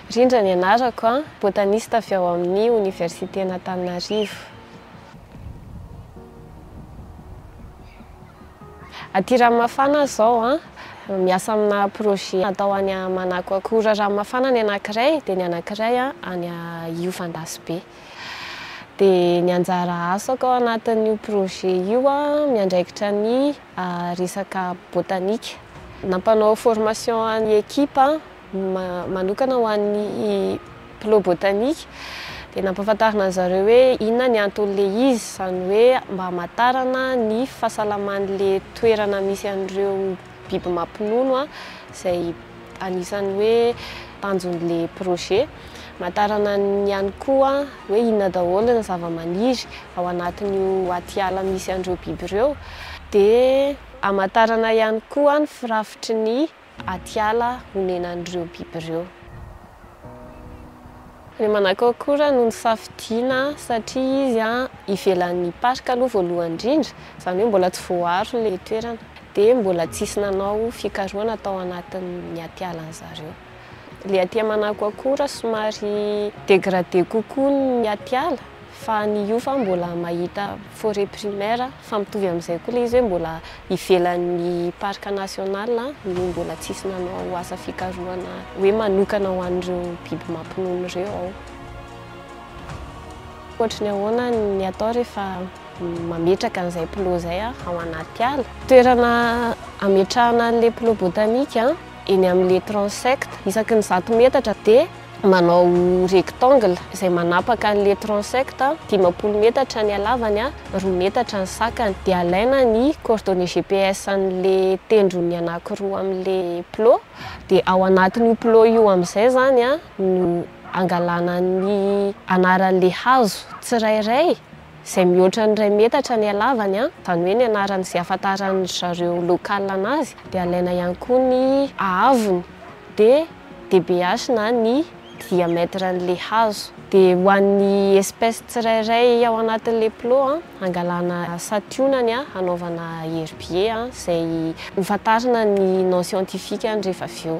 Rindra ny anarako an, botanista avy ao amin'ny Oniversiten'Antananarivo. Aty Ranomafana aho izao an, miasa amina projet atao any Manako Akora Ranomafana ny anankiray dia ny anankiray an any Iovandasobe. Dia ny anjara asako ao anatin'io projet io an, miandraikitra ny. resaka botanika. Nampanao formation an'ny ekipa manokana ho an'ny Plo Botanika dia nampahafantarina an-dry zareo hoe inona ny anton'ilay izy, izany hoe mba hamantarana ny fahasalaman'ilay toerana misy an'ireo biby mampinono izay. Anisan'ny hoe tanjon'le projet matarana ny ihany koa hoe inona daholo ny zavamaniry ao anatin'io atiala misy an'ireo biby ireo dia amatarana ihany koa ny firafitry ny atiala honenan'ireo biby ireo. Ny Manakôkora no nisafidiana satria izy ivelan'ny parc aloha voalohany indrindra, izany hoe mbola tsy voaaro ilay toerana, dia mbola tsisy nanao fikarohana tao anatin'ny atialan'ny zareo. Ilay aty Manakôkora somary dégradé kokoa ny atiala. Fa ny Ufa mbola mahita forêt primaire fa mitovy amin'izay koa ilay izy hoe mbola ivelan'ny parc national no mbola tsisy nanao asa fikarohana hoe manokana ho an'ireo biby mampinono ireo ao. Ohatry ny ahoana ny atao rehefa mametraka an'izay plot izay ao anaty ala? Toerana ametrahana an'ilay plot botanique eny amin'ilay transect isaky ny zato metatra dia. manao rectangle izay manapaka an'ilay transect, dimampolo metatra ny halavany, roa metatra ny sakany. Dia alaina ny coordonnées GPS an'ilay tendrony anankiroa amin'ilay plot, dia ao anatin'io plot io amin'izay izany no angalana ny anaran'ilay hazo tsirairay. izay mihoatra ny iray metatra ny halavany, izany hoe ny anarany izay ahafantaran dry zareo local anazy, dia alaina ihany koa ny haavony dia DBH na ny diamètre an'ilay hazo, dia ho an'ny espèce tsirairay ao anatin'ilay plot hangalana santionany hanaovana herbier izay hofantarina ny nom scientifique-ny rehefa avy eo.